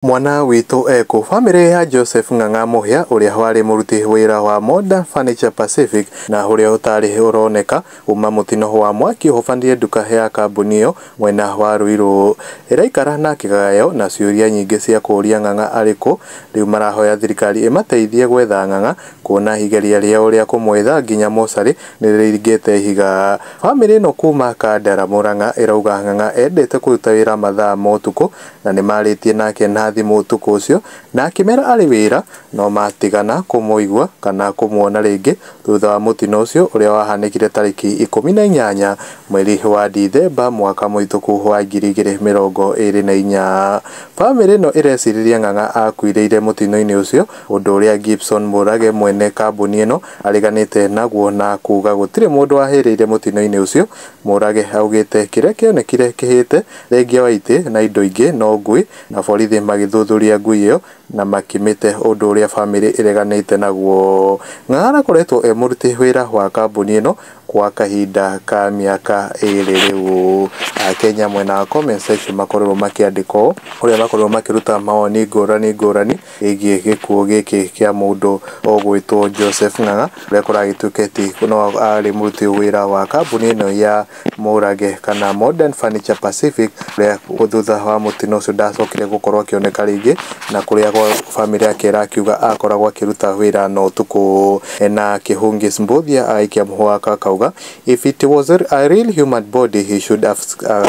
Mwana Witũ Ekũ? Famĩlĩ ya Joseph Ng'ang'a Mũhia ũrĩa warĩ mũruti wĩra wa Modern Furniture Pacific na ũrĩa ũtarĩ ũroneka kuma mũtino wa mwaki ũhobanire nduka ya kambuni ĩyo mwena wa Ruiru, ĩraikara na kĩgagayo na ciũria nyingĩ cia kũũria Ng'ang'a arĩ kũ? Rĩu marahoya thirikari ĩmateithie gwetha Ng'ang'a kuona igeria rĩao rĩa kũmwetha nginya mocarĩ nĩrĩringĩte ihiga. Famĩlĩ ĩno kuma Kandara, Mũrang'a ĩrauga Ng'ang'a endete kũruta wĩra mathaa ma ũtukũ Na nĩmaarĩtie nake na thimũ ũtukũ ũcio, na akĩmera arĩ wĩra, no maatigana kũmũigua kana kũmuona rĩngĩ thutha wa mũtino ũcio ũrĩa wahanĩkire tarĩki ikũmi na inyanya mweri wa Dithemba mwaka mũhĩtũku wa ngiri igĩrĩ mĩrongo ĩrĩ na inya. Famĩlĩ ĩno ĩrecirĩria Ng'ang'a akuĩrĩire mũtino-inĩ ũcio, ũndũ ũrĩa Gibson Murage mwene kambuni ĩno areganĩte naguo na kuga gũtirĩ mũndũ wahĩrĩire mũtino-inĩ ũcio. Murage augĩte kĩrĩa kĩonekire kĩhĩte Thengia wa itĩ na indo ingĩ no ngui na borithi magĩthuthuria ngui ĩyo na makĩmĩte ũndũ ũrĩa famĩlĩ ĩreganĩte naguo. Ng'ang'ana akoretwo e mũruti wĩra wa kambuni ĩno gwa kahinda ka mĩaka ĩrĩ rĩu. Akenya mwena wa comment section makorirwo makĩandĩka ũũ, kũrĩa makorirwo makĩruta mawoni ngũrani ngũrani ĩgiĩ gĩkuũ gĩkĩ kĩa mũndũ ũgwĩtwo Joseph Ng'ang'a ũrĩa kũragĩtuĩkĩte no arĩ mũruti wĩra wa kambuni ĩno ya... mũũrage kana Modern Furniture Pacific ũrĩa thutha wa mũtino ũcio ndacokire gũkorwo akĩoneka rĩngĩ na kũrĩa bamĩrĩ yake ĩrakiuga akoragwo akĩruta wĩra na ũtukũ na Kihungis Mbuthia agaikia mũhũa akauga if it was a real human body he should have,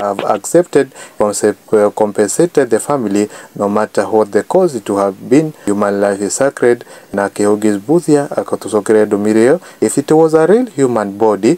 have accepted compensated the family no matter what the cause to have been human life is sacred na Kihungis Mbuthia akatũcokeria ndũmĩrĩri ĩyo if it was a real human body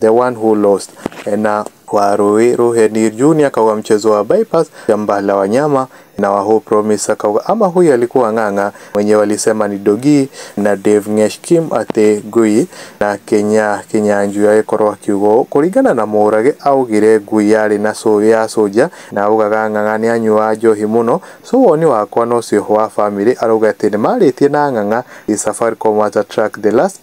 The One Who Lost na wa Rũĩ Rũheni Junior akauga mchezo wa Bypass shamba la wanyama na wa Hope Promise akauga ama huyu alikuwa ng'ang'a mwenye walisema ni Dogi na Dave Ngesh Kim ati ngui na Kenya Kinyanjui agĩkorwo akiuga ũũ kũringana na Mũrage augire ngui yarĩ na cũ ya cũnja na augaga ng'ang'a nĩanyuaga njohi mũno so woni wakwa nocio wa family arauga ati nĩmarĩtie na ng'ang'a ĩ Safaricom at a track the last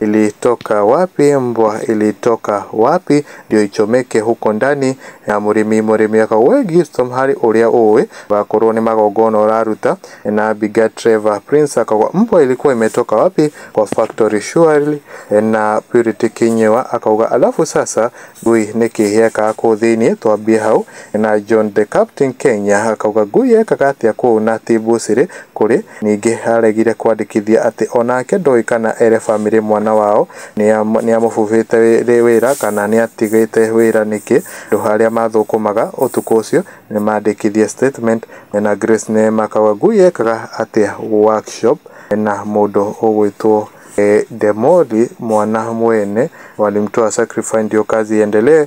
Ilitoka wapi mbwa ilitoka wapi ndio ichomeke huko ndani ya mũrĩmi mũrĩmi akauwe Gistom harĩ ũrĩa ũĩ wakorwo nĩ magongona ũraruta na Biga Trevor Prince akauwa mbwa ilikuwa imetoka wapi kwa factory surely na Purity Kinyewa akauga alafu sasa ngui nĩ kĩhĩekaga kũu thĩinĩ twambie hau na John the Captain Kenya akauga ngui yekaga atĩa kũu na Tibu Siri kũrĩ Ningĩ aaregire kwandĩkithia atĩ o nake ndoĩ kana ere famĩlĩ mwana wao nĩ amũbubĩte rĩ wĩra kana nĩ atigĩte wĩra nĩkĩ, andũ arĩa maathũkũmaga ũtukũ ũcio nĩ maandĩkithie statement. Mwena Grace nĩ makaga ngui yekaga atĩa workshop na mũndũ ũgwĩtwo Demoli mwana mwene walimtoa sacrifice ndio kazi iendelee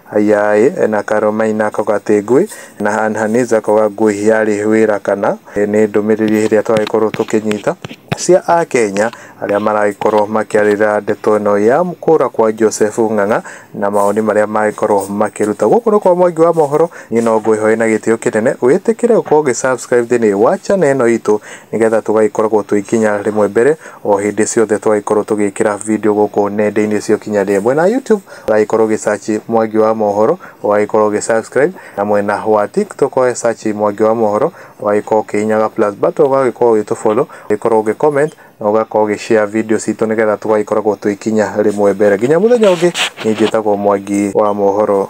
Ayai na Karũmai na Kogatĩngũi na Hanhanĩja Kogangũi yarĩ wĩra kana nĩ ndũmĩrĩri ĩrĩa twagĩkorwo tũkĩnyita cia Akenya arĩa maragĩkorwo makĩarĩrĩra ndeto ĩno ya kũra kwa Joseph Ng'ang'a na mawoni marĩa magĩkorwo makĩruta. Gũkũ nĩ kwa Mwangi wa Mohoro, niĩ no ngwĩhoe na gĩtĩo kĩnene wĩtĩkĩre gũkorwo ũgĩ subscribe thĩinĩ wa channel ĩno itũ nĩgetha tũgagĩkoragwo twĩ nginya rĩmwe mbere o hĩndĩ ciothe twagĩkorwo tũgĩkĩra video gũkũ nenda-inĩ cia ũkinyanĩria mwena wa YouTube. ũragĩkorwo ũgĩ search Mwangi wa Mohoro, ũgagĩkorwo ũgĩ subscribe, na mwena wa TikTok ũgagĩ search Mwangi wa Mohoro, ũgagĩkorwo ũkĩhihinyaga plus button, ũgagĩkorwo ũgĩtũ follow, ũgagĩkorwo ũgĩ comment, na ũgakorwo ũgĩ share video citũ nĩgetha tũgagĩkoragwo tũgĩkinya rĩmwe mbere. Nginya mũthenya ũngĩ, niĩ njĩtagwo Mwangi wa Mohoro.